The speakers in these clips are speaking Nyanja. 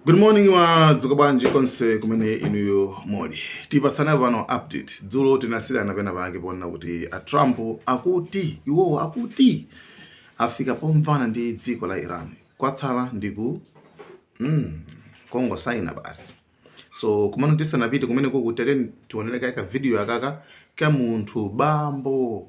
Good morning wadzuka bwanji konse kumene inuyo muli. Tipatsane pano update. Dzulo tinasiyirana pena pake poona kuti a Trump akuti iwowo akuti afika pomvana ndi dziko la Iran. Kwatsala ndi ku mm, kungosaina basi. So komano tisanapite kumeneko kutereni tionereko ka video akaka ka munthu bambo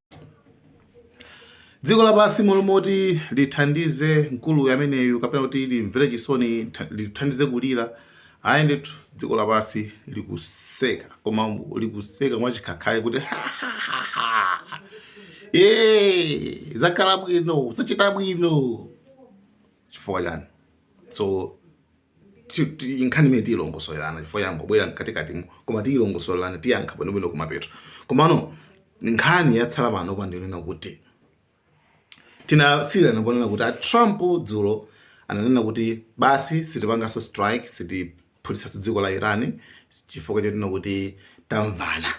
dziko lapansi m'malo moti lithandize mkulu ameneyu kapena kuti limvere chisoni tha- lithandize kulira ayi ndithu dziko lapansi likuseka koma mu- likuseka mwachikhakhale kuti "Eh, zakhala bwino zachita bwino chifukwa chiyani so nkhani imene tiyilongosolerana chifukwa yangobwera mkatikatimu koma tiyilongosolerana tiyankha bwinobwino kumapeto komano nkhani yatsala panopa ndi yonena kuti tinasiyirana ponena kuti a trump dzulo ananena kuti basi sitipanganso strike sitiphutitsanso dziko la iran chifukwa chonena kuti tamvana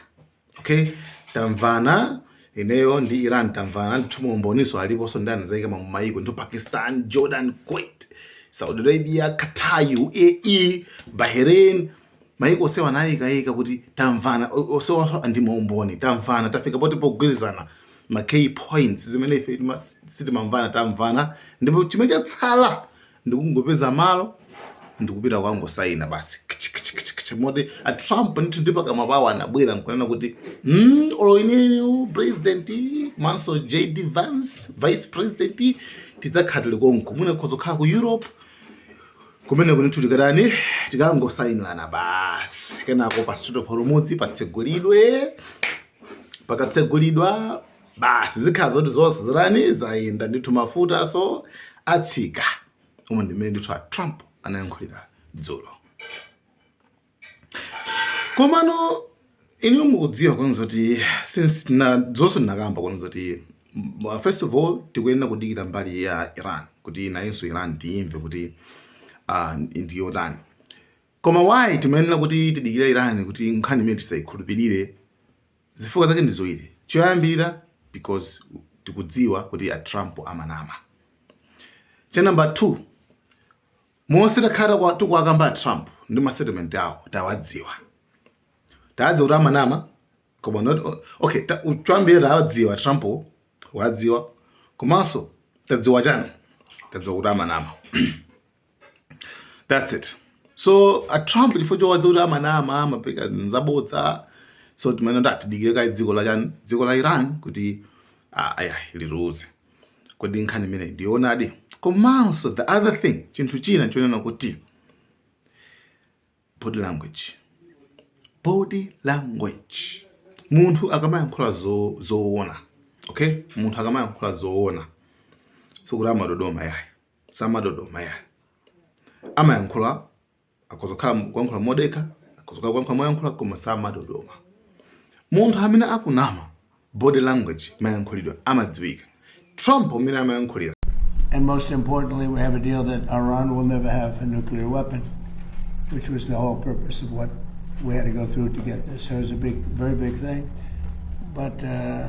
okay tamvana ineyo ndi iran tamvana ndithu maumboninso aliponso ndi anazaika mma maiko ndi pakistan jordan kuwait saudi arabia qatar uae bahrain maiko onsewa anayikaika kuti tamvana o- onsewa ndi maumboni tamvana tafika poti pogwirizana ma key points zimene ife tima- sitimamvana tamvana ndipo chimene chatsala ndikungopeza malo ndikupita kukangosayina basi moti a trump ndithu ndi pakamwa pawo anabwera nkunena kuti mm, olo ineyo president komanso jd vance vice president tidzakhala tili konko mwina khoza kukhala ku europe kumeneko ndithu tikatani tikangosayinirana basi kenako pa Strait of hormuz patsegulidwe pakatsegulidwa basi zikhala zoti zonse zatani zayenda ndithu mafutanso atsika umo ndimene ndithu a trump anayankhulira dzulo komano inu mukudziwa kunena zoti since dzulonso ndinakamba kunena zoti mm, first of all tikuyenera kudikira mbali ya iran kuti nayenso iran tiyimve kuti uh, ndiyotani koma why timayenera kuti tidikire iran kuti nkhani imeneyi tisayikhulupirire Zifukwa zake ndi ziwiri, choyambirira because tikudziwa kuti a Trump amanama. Cha number 2, monse takhala tikuwakamba a Trump ndi ma statement awo tawadziwa. Tawadziwa kuti amanama koma not o- okay, ta, u- choyambirira tawadziwa a Trump wo, wadziwa komanso tadziwa chiyani? Tadziwa kuti amanama. that's it so a trump chifukwa chowadziwa kuti amanama amapeka zinthu zabodza so timene ndati dikire kaye dziko la chani dziko la iran kuti ah, aya liwuze kodi nkhani imeneyi ndionadi komanso the other thing chinthu china chonena kuti body language body language munthu akamayankhula zo- zoona okay munthu akamayankhula zoona sikuti amadodoma yayi samadodoma ya amayankhula akhoza kukhala kuyankhula modekha akhoza kukhala kuyankhula moyankhula koma samadodoma munthu amene akunama body language mayankhulidwe amadziwika trump mmene amayankhulira And most importantly, we have a deal that Iran will never have a nuclear weapon, which was the whole purpose of what we had to go through to get this. So it was a big, very big thing. But uh,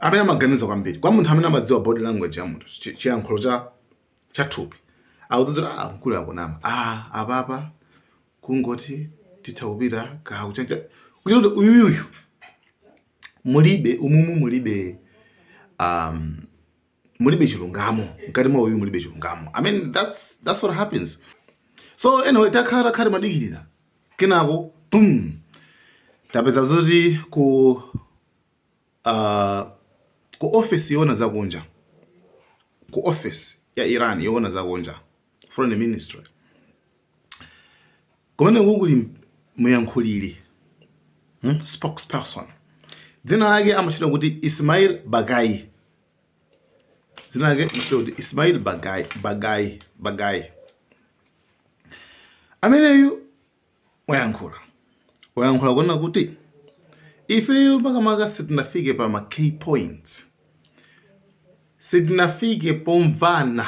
amene amaganiza kwambiri kwa munthu amene amadziwa body language ya munthu chiyankhulo cha cha thupi akudziwa kuti ah mkuluyu akunama ah apapa kungoti titha kupita kakuchacha kuti uyuyu mulibe umumu mulibe um mulibe chilungamo mkati mwa uyu mulibe chilungamo i mean that's that's what happens so anyway takhala takhala timadikirira kenako boom tapeza zoti ku a ku ofesi yoona za kunja, ku ofesi ya Iran yoona za kunja, foreign ministry, kumeneku kuli muyankhuliri, spokesperson, dzina lake amatchedwa kuti Ismail Baghaei, dzina lake amatchedwa kuti Ismail Baghaei, Baghaei, Baghaei, ameneyu. wayankhula wayankhula kunena kuti ifeyo makamaka sitinafike pa ma key points, sitinafike pomvana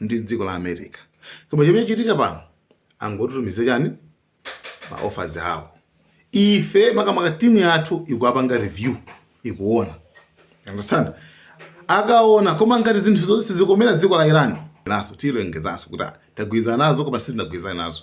ndi dziko la America. Koma chimene chachitika pano angotitumizira chani ma offers awo, ife makamaka timu yathu ikuwapanga review ikuona understand akuona koma ngati zinthu zonse zizikomera dziko la Iran nafenso tilengezanso kuti tagwirizana nazo koma sitinagwirizane nazo.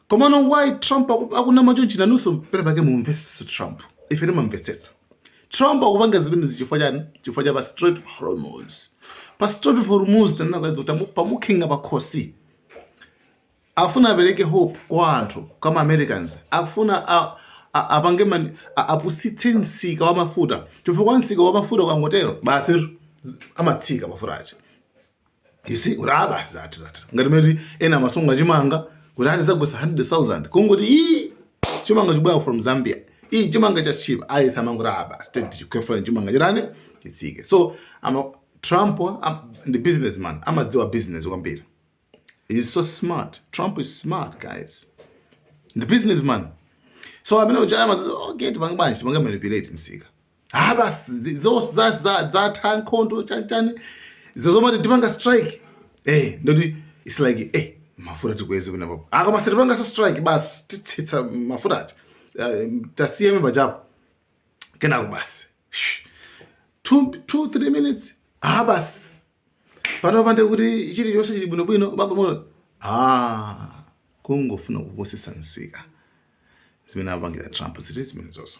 Komano why Trump akunama chonchi inunso pena pake mumumvetsetse Trump. Ife timamvetsetsa. Trump akupanga zimenezi chifukwa chani? Chifukwa cha pa Strait of Hormuz. Pa Strait of Hormuz tanena kale kuti pamukhinga pa khosi. Afuna apereke hope kwa anthu, kwa ma Americans. Afuna a, a, apange mani apusitse msika wa mafuta. Chifukwa msika wa mafuta ukangotero basi amatsika mafuta aja. ndiye kuti ah basi zathu zathu ngati mene ena amasunga chimanga kuti ati zagwesa 100000 kungoti ii chimanga chibwera from zambia ii chimanga cha cheap ayesa amangoti ah basi state ikhwefula chimanga chitani chitsike so ama trump am, ndi businessman amadziwa business kwambiri he's so smart trump is smart guys ndi businessman so amene uja amadziwa okay tipange bwanji tipange manipulate msika ah basi zi- zonse za- za- zatha nkhondo chanichani izo zomati tipanga strike eh ndoti its like eh mafuta tikweze kunena apapa koma sitipangaso strike basi titsitsa mafuta aja Eh, tasiyani pachapo kenako basi Shh. two, two three minutes ah basi pano panonde kuti chili chonse chili bwinobwino bagomono ah kungofuna kupusitsa msika zimene apangira trump ndi zimenezozo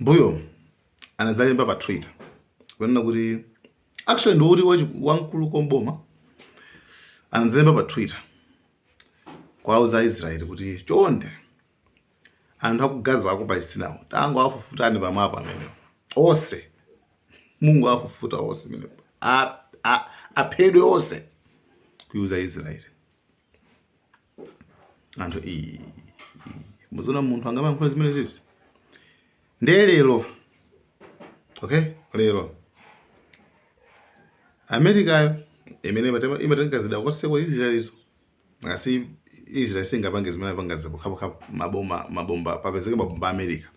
mbuyo anadzalemba pa Twitter kunena kuti actually ndoti wamkulu ku boma anadzalemba pa Twitter kuwauza Aisraeli kuti chonde anthu aku Gaza aku Palestina awo tangowafufutani pamapu amenewo onse mungowafufuta onse amenewo aphedwe onse kuiuza Israeli anthu ii muziona munthu angamayankhula zimenezizi ndiye lero okay lero amerikayo imene imatema- imatenga zida kwaseko israelizo as israel israel singapange zimene apangazi pokhapokha maboma mabomba papezeke mabomba a america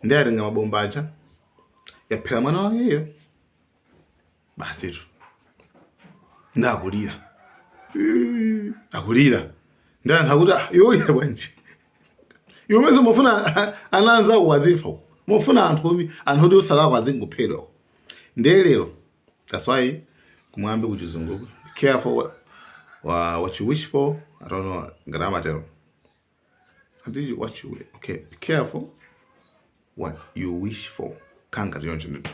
ndiye atenga mabomba aja yaphera mwana wakeyo basitu nde akulira Eh, akulira ndiye anthu akuti "Ah, iwe ulira bwanji iwe mesa umafuna ana anzako azifa uko. umafuna anthu omi- anthu oti osalakwa azingophedwa uko. ndiye lero that's why kumwambi kuchizungu careful wa, wa, what you wish for i don't know ngati amatero And you what you okay, be careful what you wish for. Nkhanga zaona choncho.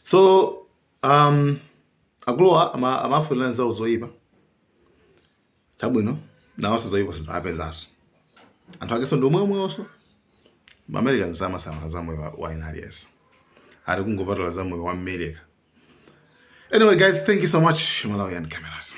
So um akulira ama amafunira anzawo zoyipa. Chabwino nawonso zoyipa zo zawapezanso. Anthu akeso ndi omweomwewonso. Americans samasamala za moyo wa ina aliyense. Ati kungopatula za moyo wa America. Anyway guys, thank you so much Malawian cameras.